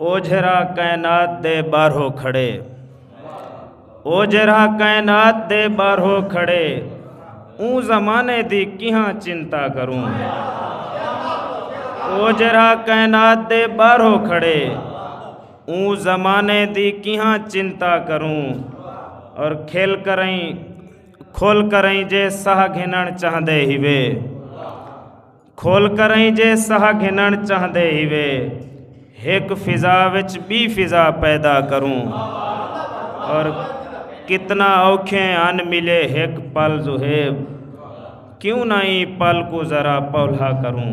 او جیرھا کائنات دے ٻاہرو کھڑے او جیرھا کائنات دے ٻاہرو کھڑے اوں زمانے دی کیہاں چنتا کروں او جیرھا کائنات دے ٻاہرو کھڑے اوں زمانے دی کیہاں چنتا کروں اور کھل کریں کھل کریں جے ساہ گھنن چاہندے ہیوے کھل کرئیں جے ساہ گھنن چاہندے ہیوے ہک فضا وچ بی فضا پیدا کروں اور کتنا اوکھے ان ملے ہک پل زہیب کیوں نہ ای پل کو ذرا پولا کروں